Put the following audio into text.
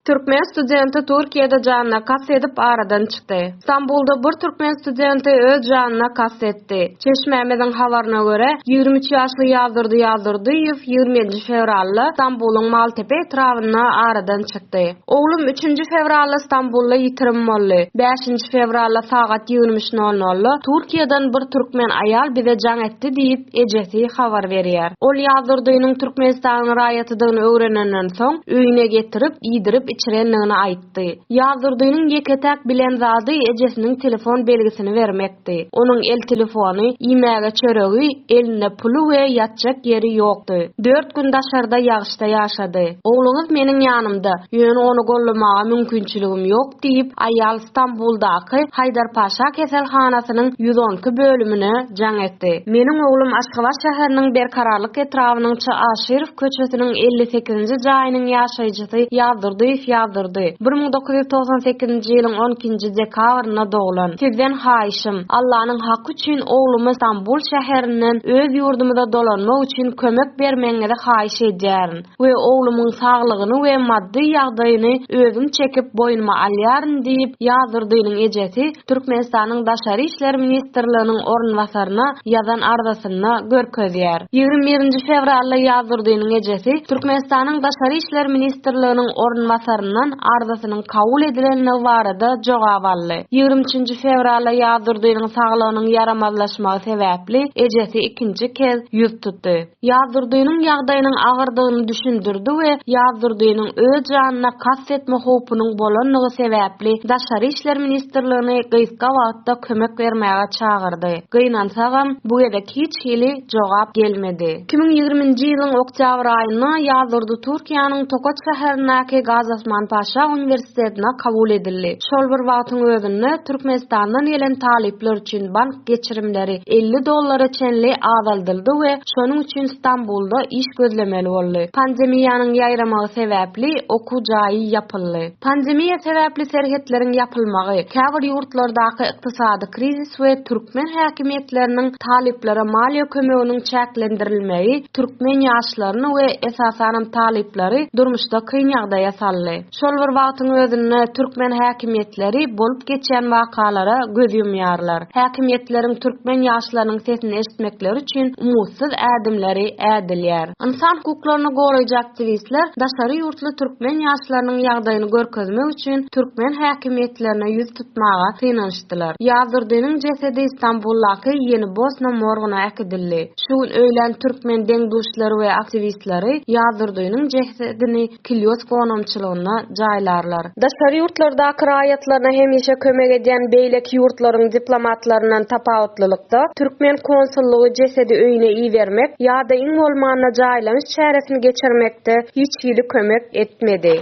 Türkmen studenti Türkiýede janyna kast edip aradan çykdy. Stambulda bir türkmen studenti öz janyna kast etdi. Çeşmämiziň habaryna görä, ýigrimi üç ýaşly Ýagdurdy Ýagdurdyýew ýigrimi nji fewralda Stambulyň Maltepe etrabynda aradan çykdy. Oglum üçünji fewralda Stambulda ýitirim boldy. Bäşinji fewralda sagat ýigrimi üç nol nolda Türkiýeden bir türkmen aýal bize jaň etdi diýip, ejesi habar berýär. Ol Ýazdurdynyň Türkmenistanyň raýatydygyny öwrenenden soň, öýüne getirip, iýdirip-içirendigini aýtdy. Ýazdurdynyň ýeke-täk bilen zady ejesiniň telefon belgisini bermekdi. Onuň el telefony, iýmäge çöregi, elinde puly we ýatjak ýeri ýokdy. Dört gün daşarda ýagyşda ýaşady. Ogluňyz meniň ýanymda, ýöne ony gollamaga mümkinçiligim ýok. diýip, aýal Stambuldaky Haýdarpaşa keselhanasynyň ýüz on iki bölümine jaň etdi. Meniň oglum Aşgabat şäheriniň Berkararlyk etrabynyň Çaşyrow köçesiniň elli sekizinji jaýynyň ýaşaýjysy Ýazdurdyýew Ýazdurdy. Bir müň dokuz ýüz togsan sekizinji ýylyň on ikinji dekabrynda doglan. Sizden haýyşym, Allanyň haky üçin oglumy Stambul şäherinden öz ýurdumyza dolanmak üçin kömek bermegiňizi haýyş edýärin. we oglumyň saglygyny we maddy ýagdaýyny özüm çekip boýnuma alýaryn diýip, Ýazdurdynyň ejesi Türkmenistanyň Daşary işler ministrliginiň orunbasaryna ýazan arzasynda görkezýär. Ýigrimi birinji fewralda Ýazdurdynyň ejesi Türkmenistanyň Daşary işler ministrliginiň orunbasaryndan arzasynyň kabul edilendigi barada jogap aldy. Ýigrimi üçünji fewralda Ýazdurdynyň saglygynyň ýaramazlaşmagy sebäpli ejesi ikinji kez ýüz tutdy. Ýazdurdynyň ýagdaýynyň agyrdygyny düşündirdi we Ýazdurdynyň öz janyna kast etme howpunyň bolandygy sebäpli Daşary işler ministrligini gysga wagtda kömek bermäge çagyrdy. Gynansagam, bu gezek hiç hili jogap gelmedi. Iki müň ýigriminji ýylyň oktýabr aýynda Ýazdurdy Türkiýäniň Tokaç şäherindäki Gazi Osman Paşa uniwersitetinde uniwersitetine kabul edildi. Şol bir wagtyň özünde, Türkmenistandan gelen talyplar üçin bank geçirimleri elli dollara çenli azaldyldy we şonuň üçin Stambulda iş gözlemeli boldy. Pandemiýanyň ýaýramagy sebäpli, okuw jaýy ýapyldy. Pandemiýa sebäpli serhetleriň ýapylmagy, käbir ýurtlardaky ykdysady krizis we türkmen häkimiýetleriniň talyplara maliýe kömeginiň çäklendirilmegi türkmen ýaşlaryny we, esasanam, talyplary durmuşda kyn ýagdaýa saldy. Şol bir wagtyň özünde türkmen häkimiýetleri bolup geçýän wakalara göz ýumýarlar. Häkimiýetleriň türkmen ýaşlarynyň sesini eşitmekleri üçin umutsyz ädimleri ädilýär. Ynsan hukuklaryny goraýjy aktiwistler daşary ýurtly türkmen ýaşlarynyň ýagdaýyny görkezmek üçin türkmen häkimiýetlerine ýüz tutmaga synanyşdylar. Ýazdyrdiniň jesedi Stambuldaky Ýeni Bosna morgyna äkidildi. Şu gün öýlän türkmen deň-duşlary we aktiwistleri Ýazdyrdiniň jesedini Kilýos goňamçylygynda jaýlarlar. Daşary ýurtlardaky raýatlaryna hemişe kömek edýän beýleki ýurtlaryň diplomatlaryndan tapawutlylykda, türkmen konsullygy jesedi öýüne ibermek ýa-da iň bolmanda jaýlanyş çäresini geçirmekde hiç hili kömek etmedi.